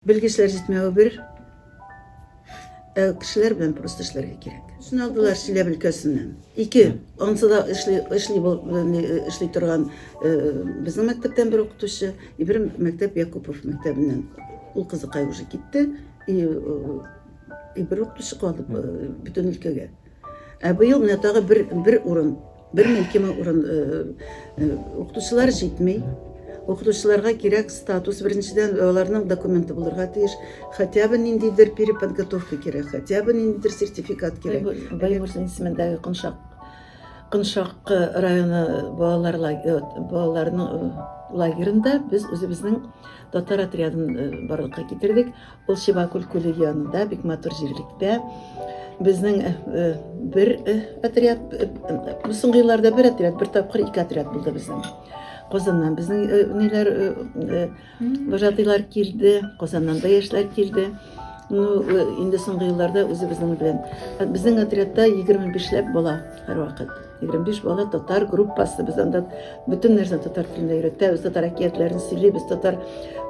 Белгечләр җитмәве бер, ә кешеләр белән просто эшләргә кирәк. Шуны алдылар Чиләб өлкәсеннән. Ике, ансы да эшли, эшли, эшли торган безнең мәктәптән бер укытучы, и бер мәктәп Якупов мәктәбеннән. Ул кызыкай уже китте, и, и бер укытучы калды бөтен өлкәгә. Ә быел менә тагы бер, бер урын, бер мелкеме урын э, э, укытучылар җитми. Укытучыларга кирәк статус, беренчедән аларның документы булырга тиеш. Хотя бы ниндидер переподготовка кирәк, хотя бы ниндидер сертификат кирәк. Баймурзин исемендәге Кыншак Кыншак районы балалар э, балаларының лагерында без үзебезнең татар отрядын барлыкка китердек. Ул Шибакүл күле янында, бик матур җирлектә. Безнең э, э, бер э, отряд, бу соңгы елларда бер отряд, бер тапкыр ике отряд булды безнең. Казаннан безнең ниләр вожатыйлар килде, Казаннан да яшьләр килде. Ну, инде соңгы елларда үзебезнең белән. Безнең отрядта 25 ләп бала һәрвакыт. 25 бала татар группасы без анда бөтен нәрсә татар телендә өйрәтәбез татар әкиятләрен сөйлибез татар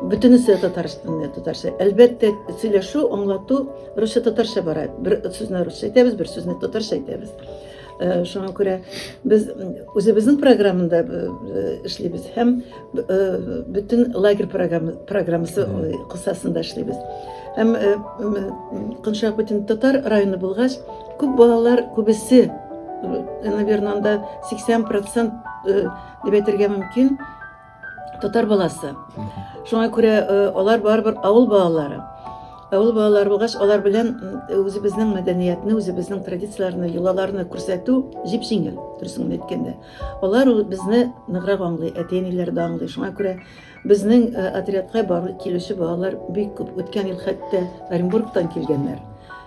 бөтенесе татарстанда татарча әлбәттә сөйләшү аңлату русча татарча бара бер сүзне русча әйтәбез бер сүзне татарча әйтәбез шуңа күрә без үзебезнең программада эшлибез һәм Бүтін лагерь программасы кысасында эшлибез. Һәм Кыншак бүтін татар районы булгач, күп балалар күбесе, наверное, анда 80% дип әйтергә мөмкин, татар баласы. Шуңа күрә алар барыбер авыл балалары. Авыл балалары булгач, алар белән үзебезнең мәдәниятне, үзебезнең традицияләрне, йолаларны күрсәтү җип-җиңел, дөресен әйткәндә. Алар безне ныграк аңлый, әти-әниләр дә аңлый. Шуңа күрә безнең э, отрядка барып килүче балалар бик күп. Үткән ел хәтта Оренбургтан килгәннәр.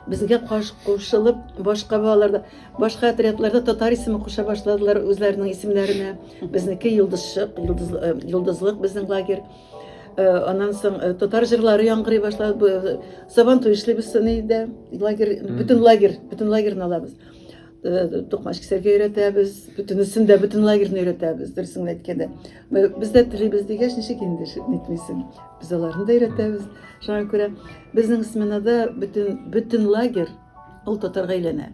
Безгә каш кушылып, башка балаларда, башка отрядларда татар исеме куша башладылар үзләренең исемнәренә. Безнеке Йолдызчык, Йолдыз, э, Йолдызлык безнең лагерь. Э, аннан соң э, татар җырлары яңгырый башлады э, сабан туй эшлибез соны өйдә лагерь бөтен лагерь бөтен лагерьны алабыз Э, токмач кисәргә өйрәтәбез бөтенесен дә бөтен лагерьны өйрәтәбез дөресен генә әйткәндә без дә телибез дигәч ничек инде нитмисең без аларны да өйрәтәбез шуңа күрә безнең сменада бөтен бөтен лагерь ул татарга әйләнә